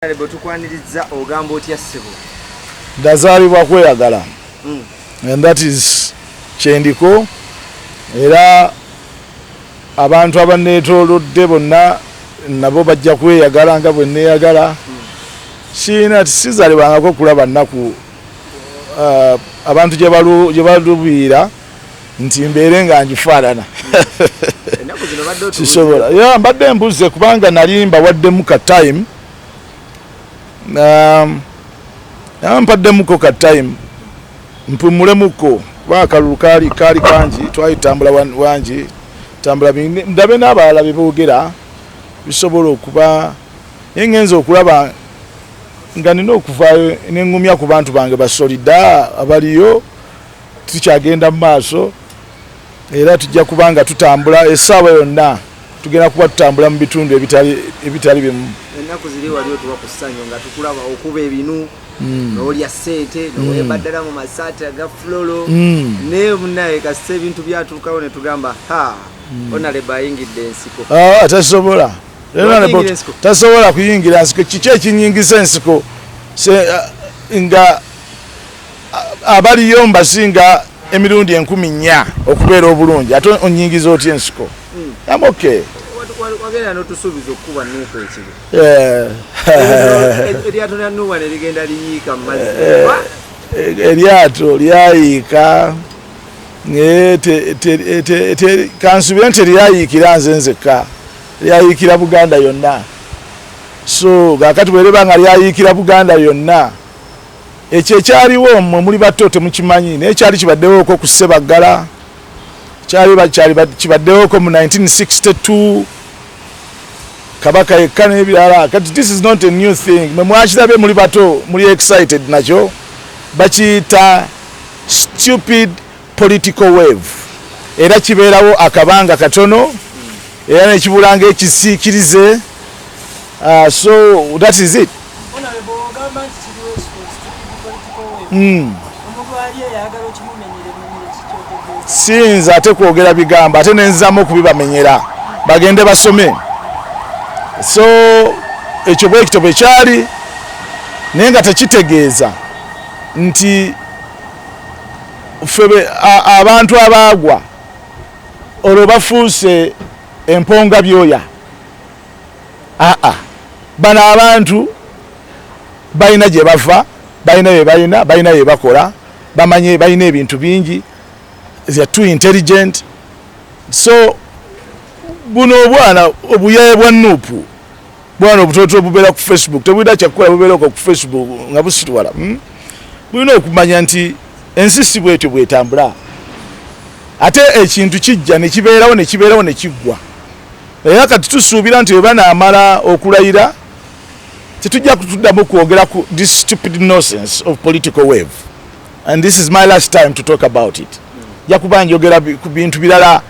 bwetukwanirizza ogamba otya ssebo ndazaalibwa kweyagala hmm. and that is kyendiko era abantu abaneetolodde bonna nabo bajja kweyagala nga bwe neeyagala hmm. siina tisizalibwangako kulaba nnaku uh, abantu gye balubiira nti mbeere nga ngifaanana sisobola ya mbadde mbuze kubanga nali mbawaddemu ka time um, mpaddemukko ka time mpumulemukko kuba akalulu kaali kaali kangi twali tambula wangi tambula ndabe n'abalala bye boogera bisobola okuba naye ngenza okulaba nga nina okuvaayo nengumya ku bantu bange basolida abaliyo tukyagenda mu maaso era tujja kuba nga tutambula essaawa yonna tugenda kuba tutambula mu bitundu ebitali bimu ennaku ziri wali otuba ku ssanyu nga tukulaba okuba ebinu hmm. nolya sente hmm. nowebaddala mu masaati aga fulolo hmm. naye munaye kasita ebintu byatuukawo ne tugamba ha onalebo ayingidde ensiko ah, tasobola tasobola kuyingira nsiko kiki ekinyingisa ensiko ah, nga abaliyo mbasinga emirundi enkumi nnya okubeera obulungi ate onyingiza otya ensiko hmm. am okay wagenda notusuubiza okukuba nuuku ekibi eryato lya nuuwa ne ligenda liyiika mu mazzi eh, eh, eryato lyayiika kansubire nti teryayiikira nze nzekka lyayiikira buganda yonna so gakati bwereba nga lyayiikira buganda yonna Ekyo ekyaliwo mwe muli bato temukimanyi naye kyali kibaddewoko ku Ssebaggala kyali kyali kibaddewoko mu 1962 kabaka yekka n'ebirala kati this is not a new thing mwe mwakirabye muli bato muli excited nakyo bakiyita stupid political wave, era kibeerawo akabanga katono era nekibula nga ekisiikirize uh, so that is it hmm. siyinza ate kwogera bigambo ate nenzizamu okubibamenyera bagende basome so ekyo bwekito bwe kyali naye nga tekitegeeza nti ffe abantu abaagwa olwo bafuuse emponga byoya aa bano abantu balina gye bava balina bye balina balina bye bakola bamanye balina ebintu bingi they're too intelligent so buno obwana obuyaye bwa nupu bwana obutoto bubeera ku facebook tebulina kyakukola bubeera ku facebook nga busitwala hmm? bulina okumanya nti ensi si bwetyo bwetambula ate ekintu kijja nekibeerawo nekibeerawo nekiggwa era kati tusuubira nti webanaamala okulayira tetujja kutuddamu kwogera ku this stupid nonsense of political wave and this is my last time to talk about it jakuba njogera ku bintu birala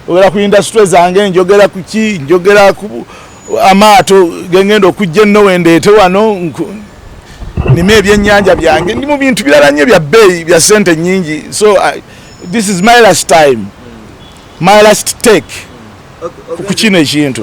ogera ku industry zange njogera kuki njogera ku amaato gengenda okujja enno wendeete wano nima ebyenyanja byange ndi mu bintu birala nnyo bya bbeeyi bya sente nyingi so uh, this is my last time my last take ku kino ekintu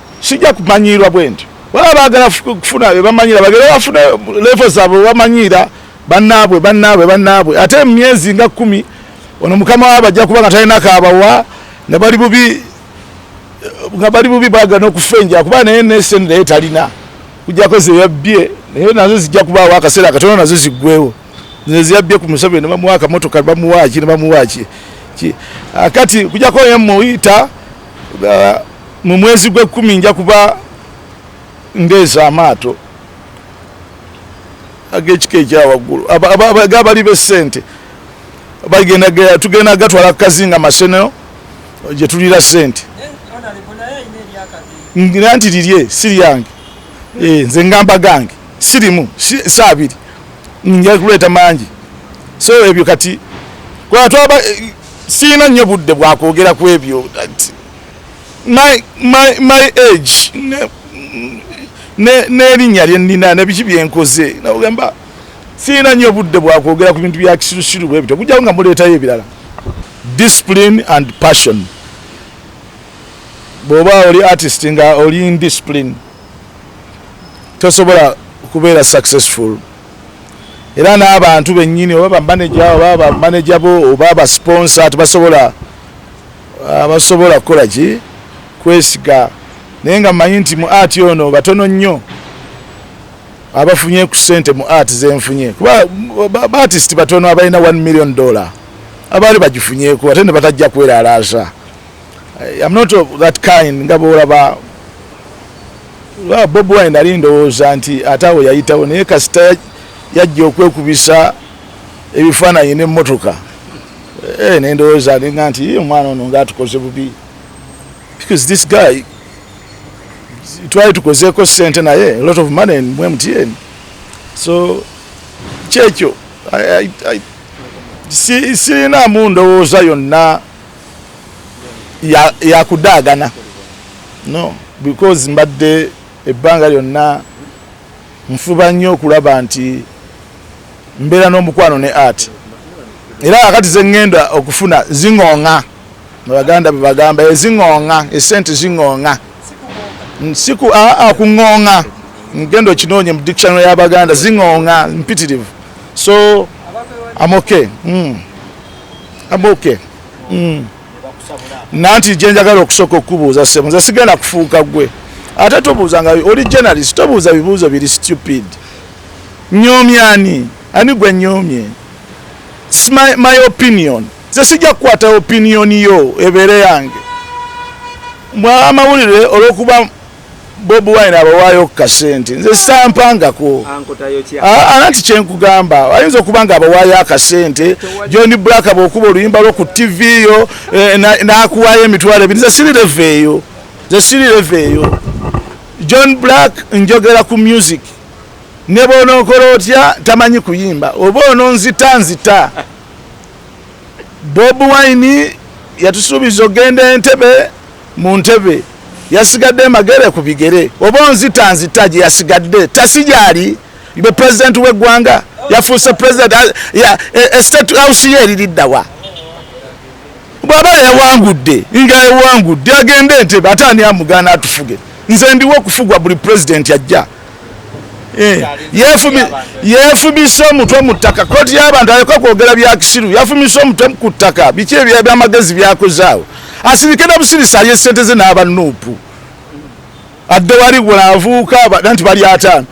sijja kumanyiirwa bwe ntyo baba baagala kufuna bebamanyira bagere bafune levo zaabwe webamanyiira banaabwe banaabwe banaabwe ate mumyezi nga kumi ono mukama wa bajja kuba nga talina kaabawa nga bali bubi nga bali bubi baga nokufa enja kuba naye nesen naye talina kujjako zeyabbye naye nazo zijja kubaawo akaseera akatono nazo ziggwewo zeyabbye ku museveni nebamuwa akamotoka bamuwaki nebamuwaki kati kujjako yemuyita mu mwezi gw'ekkumi nja kuba ndeesa amaato ag'ekika ekyawaggulu gabali b'essente bagenda tugenda gatwala kukazinga masenero gye tulira ssente ngira nti lirye si lyange eh, nze ngamba gange sirimu saabiri nja kuleeta mangi so ebyo kati kwatwaba sirina nnyo budde bwakwogera ku ebyo my, my, my age n'erinnya lye nnina nebiki byenkoze nagamba sirina nnyo budde bwakwogera ku bintu bya kisirusiru bwe bityo kujjawo nga muleetayo ebirala discipline and passion bw'oba oli artist nga oli indiscipline tosobola kubeera successful era n'abantu bennyini oba bamaneja oba bamaneja bo oba abasponsa tebasobola abasobola kukola ki kwesiga naye nga mmanyi nti mu ati ono batono nnyo abafunye ku sente mu ati zenfunye kuba baatisiti batono abalina 1 million dollar abaali bagifunyeku ate ne batajja kweralaasa Eh, I'm not of that kind nga bwolaba ah, Bob Wine nali ndowooza nti ate awo yayitawo naye kasita yajja okwekubisa ebifaananyi n'emmotoka eh, ne ndowooza ninga nti omwana ono ngaatukoze bubi because this guy twali tukozeeko ssente naye a lot of money mu mtn so kyekyo sirina mu ndowooza yonna yakudaagana ya no because mbadde ebbanga lyonna nfuba nnyo okulaba nti mbeera n'omukwano ne art era kakati zeŋŋenda okufuna ziŋoŋa abaganda bebagamba eziŋoŋa eh, esente ziŋoŋa siku aa ah, ah, kuŋoŋa ngenda okinoonye mu dictionary y'abaganda ziŋoŋa mpitirivu so amoke mm. I'm okay. Mm. Nanti jenjagala okusoko kubuuza sebo nze sigenda kufuuka gwe ate tobuuza nga oli journalist tobuuza bibuuzo biri stupid nyoomya ani ani gwe nyoomye my, my opinion nze sijja kukwata opinion yo ebeere yange mwa amawulire olwokuba bob wine abawaayo ku kasente nze sampangako ananti kyenkugamba ayinza okuba nga abawaayo akasente john black bwokuba oluyimba lwo ku tv yo eh, nakuwaayo emitwalo ebiri nze sirireva eyo nze sirireva eyo john black njogera ku music ne bwonokola otya tamanyi kuyimba oba ono nzita nzita bob wine yatusuubiza ogenda entebe mu ntebe yasigadde magere ku bigere oba onzita nzita gye yasigadde tasi gyali be pulezidenti w'eggwanga yafuuse pulezidenti estate e, e, house ye eririddawa bw'aba yawangudde nga yawangudde agende entebe ate ani amugaana atufuge nze ndiwo okufugwa buli pulezidenti ajja Eh, yefumise omutwe mu ttaka koti y'abantu aleka kwogera bya kisiru yafumise omutwe ku ttaka biki ebyamagezi byakozaawo asirike na busirisi alye sente ze n'aba nuupu adde wali gwenavuuka nti bali ataano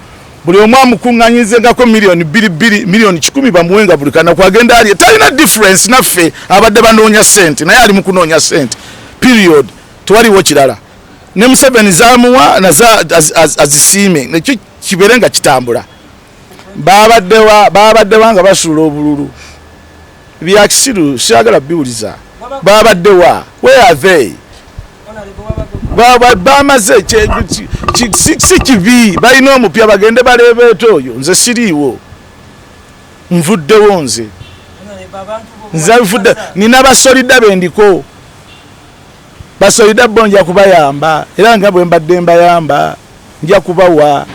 buli omu amukuŋŋanyizengako miliyoni bbiri bbiri miliyoni kikumi bamuwenga buli kanaku agenda alye talina difference naffe abadde banoonya sente naye ali mu kunoonya sente period tewaliwo kirala ne museveni zamuwa naze azisiime nekyo kibeere nga kitambula babaddewa babaddewa nga basuula obululu byakisiru siyagala biwuliza babaddewa where are they bamaze si kibi balina omupya bagende baleebeeta oyo nze siriiwo nvuddewo nze nze nvudde nina basolidda bendiko Basoida bo nja kubayamba era nga bwe mbadde mbayamba nja kubawa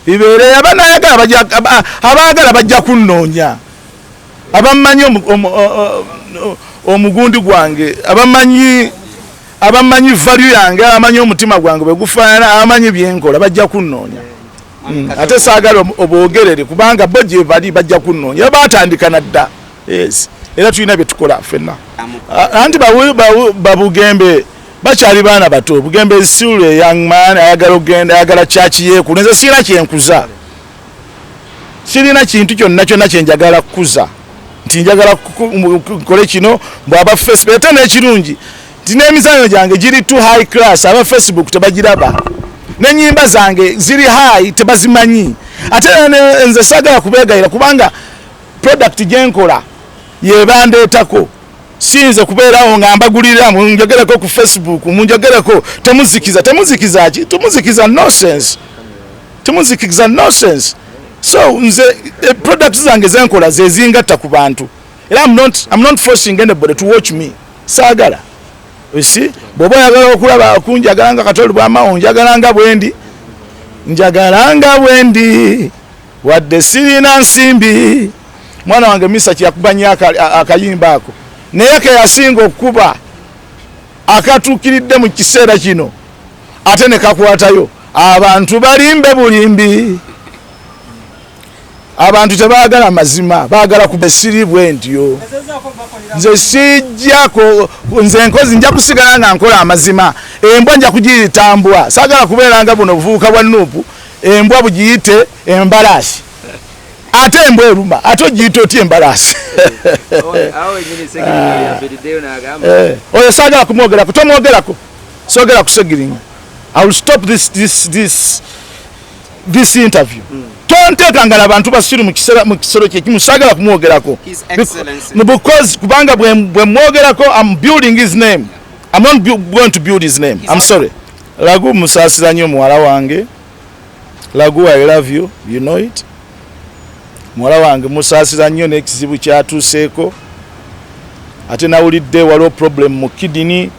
bibeere abanayagala abaagala bajja kunnoonya abamanyi omugundi gwange abamanyi abamanyi value yange abamanyi omutima gwange bwe gufaanana abamanyi byenkola bajja kunnoonya mm, ate saagala obwogerere kubanga bo gyebali bajja kunnoonya batandika nadda yes era tulina byetukola fenna anti babugembe bakyali baana bato bugembe isula young man ayagala okugenda ayagala kyaki yeku nze sirina kyenkuza sirina kintu kyonna kyonna kyenjagala kukuza nti njagala nkole kino bwaba fesi ate nekirungi nti n'emizanyo gyange giri to high class aba facebook tebagiraba nenyimba zange ziri high tebazimanyi ate nze sagala kubegayira kubanga product gyenkola yebandeetako sinze kubeerawo nga mbagulirira munjogereko ku facebook munjogereko temuzikiza temuzikiza ki temuzikiza nonsense temuzikiza nonsense so nze eh, product zange zenkola zezingatta ku bantu era am not, am not forcing anybody to watch me saagala si bw'oba oyagala okulaba kunjagala nga katoli bwamawo njagala nga bwendi njagala nga bwendi wadde sirina nsimbi mwana wange misa kyeyakuba nnyo akayimba ako naye keyasinga okukuba akatuukiridde mu kiseera kino ate ne kakwatayo abantu balimbe bulimbi abantu tebagala mazima bagala ku besiri bwentyo nze sijjako nze nkozi nja kusigala nga nkola amazima embwa nja kugiyitambwa sagala kubeeranga buno buvubuka bwa nuupu embwa bugiyite embalaasi ate embwa eruma ate ogiyita otya embalaasi eh, oyo sagala kumwogerako tomwogerako sogera kusegiringa i will stop this, this, this. this interview mm. tonteeka ngala abantu basiru mu kisero kyekimu sagala kumwogerako because kubanga bwe mwogerako am building his name am not going to build his name am sorry lagu musaasira nnyo muwala wange lagu i love you you know it muwala wange musaasira nnyo n'ekizibu kyatuuseeko ate nawulidde waliwo problem mu kidini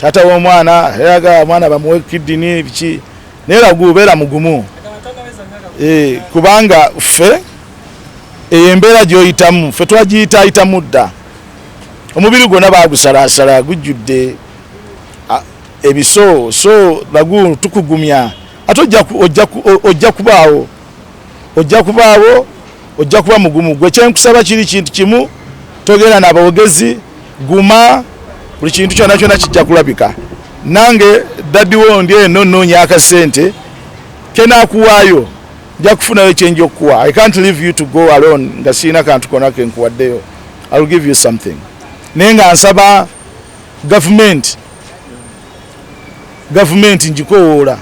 taata w'omwana eraga omwana bamuwe kidini biki naye lagu beera mugumu eh, kubanga ffe eyo embeera gyoyitamu ffe twagiyitayitamu dda omubiri gwonna bagusalasala gujjudde ebiso so lagu tukugumya ate ojja kubaawo ojja kubaawo ojja kuba mugumu gwe kyenkusaba kiri kintu kimu togera nabawogezi guma buli kintu kyona kyona kijja kulabika nange dadiwo ndi eno nonya akasente kenakuwaayo nja kufunayo kyenja okukuwa i can't leave you to go alone nga sirina kantu kona kenkuwaddeyo ill give you something naye nga nsaba gavumenti gavumenti njikowoola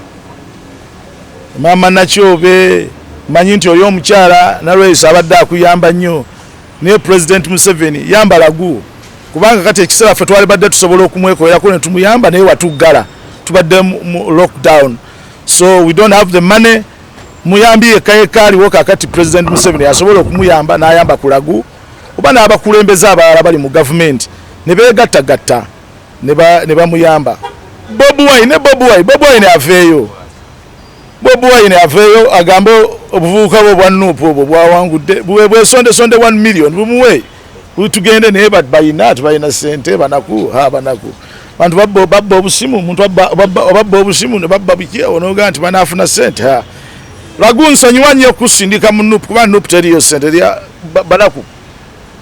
maama nakyobe manyi nti oli omukyala nalweyisa abadde akuyamba nnyo naye president museveni yambala guwo kubanga kati ekiseera ffe twali badde tusobola okumwekolerako ne tumuyamba naye watuggala tubadde mu lockdown so we don't have the money muyambi yekka yekka aliwo kakati president museveni asobola okumuyamba n'ayamba kulagu oba n'abakulembeze abalala bali mu gavumenti ne beegattagatta ne bamuyamba Bob Wine ne Bob Wine Bob Wine aveeyo Bob Wine aveeyo agambe obuvubuka bwe bwa nup obwo bwawangudde bwesonde sonde 1 million bumuwe tugende naye balina tebalina sente banaku ha banaku bantu babba babba obusimu omuntu babba obusimu ne babba biki onoga nti banaafuna sente ha lagu nsonyiwa nnyo okusindika mu nup kuba nup teriyo sente banaku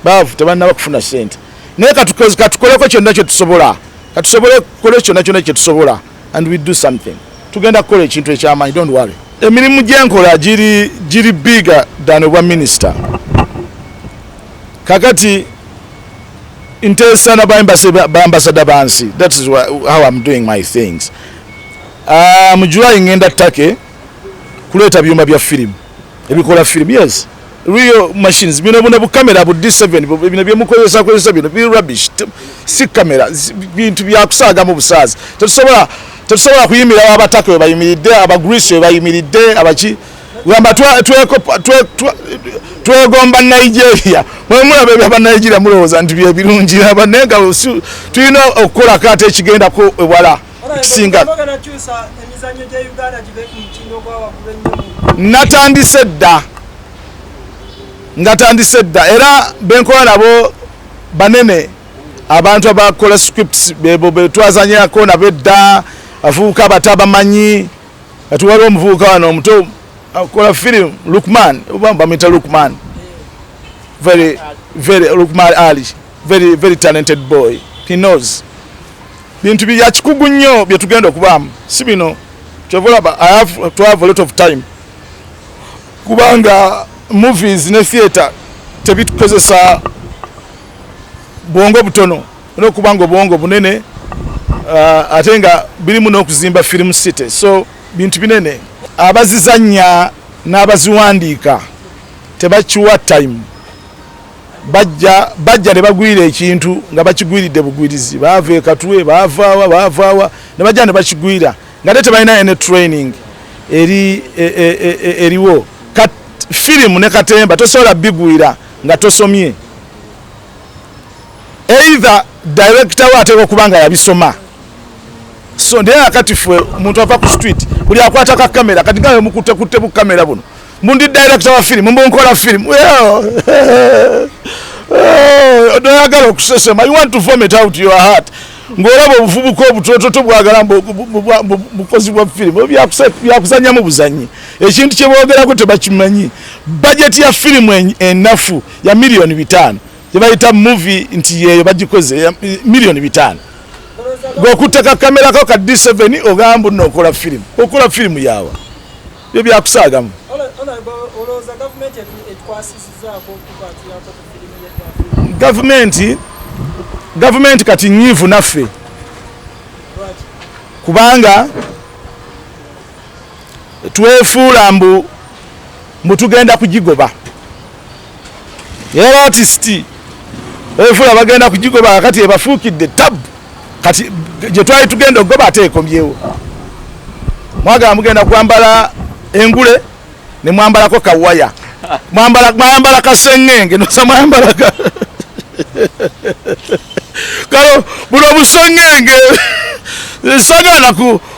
baavu tebalina bakufuna sente naye katukoleko kyonna kyetusobola katusobole kukole kyonna kyonna kyetusobola and we do something tugenda kukola ekintu ekyamaanyi don't worry emirimu gyenkola giri giri bigger than obwa minister kakati nteesa na bambasada bansi that is how im doing my things uh, ah, mujulayi ngenda take kuleeta byuma bya firimu ebikola film yes real machines bino buna bu camera bu D7 bino bye mukozesa kozesa bino bi rubbish si camera bintu bya kusaga mu busazi tetusobola tetusobola kuyimira abataka we bayimiridde aba Greece we bayimiridde abaki gamba twa tweko twa twegomba Nigeria mwe mula bebe aba Nigeria muloza nti bye birungi aba nenga tuyina okola kate ekigenda ko wala kisinga natandise dda natandise dda era benkola nabo banene abantu abakola scripts bebo betwazanyako nabo edda abavubuka abato abamanyi kati waliwo omuvubuka wano omuto akola film lukman bamwita lukman very very lukman ali Very, very talented boy. He knows. Bintu bya kikugu nnyo bye tugenda okubaamu si bino kyova olaba I have to have a lot of time kubanga movies ne theatre tebitukozesa bwongo butono olwokuba nga obwongo bunene uh, ate nga birimu n'okuzimba film city so bintu binene abazizanya n'abaziwandiika tebakiwa time bajja bajja ne bagwira ekintu nga bakigwiridde bugwirizi baava ekatwe baavaawa baavaawa ne bajja ne bakigwira nga te tebalina ene training eri e, e, e, eriwo kat firimu ne katemba tosobola bigwira nga tosomye either director we ateeka okuba nga yabisoma so naye akati fwe omuntu ava ku street buli akwata ka kamera kati nga wemukutte kutte bu kamera buno Mbu ndi director wa film, mbu nkola film. Eh, odoyagala okusesema you want to form it out your heart ng'olaba obuvubuka obutoto tobwagala bukozi bwa firimu byakusanyamu buzanyi ekintu kyebwogerako tebakimanyi bajeti ya firimu enafu ya miliyoni bitaano gyebayita muvi nti yeyo bagikoze miliyoni bitaano gweokutteka kamerako ka d7 ogamba nokola firimu okola firimu yawa byo byakusaagamu gavumenti gavumenti kati nyiivu naffe kubanga twefuula mbu mbu tugenda kugigoba era atisiti efula bagenda kugigoba kakati ebafuukidde tabu kati gye twali tugenda okugoba ate ekomyewo mwagala mugenda kwambala engule ne mwambalako kawaya mwambala kasengenge nosa mwambala kalo buno busengenge sagala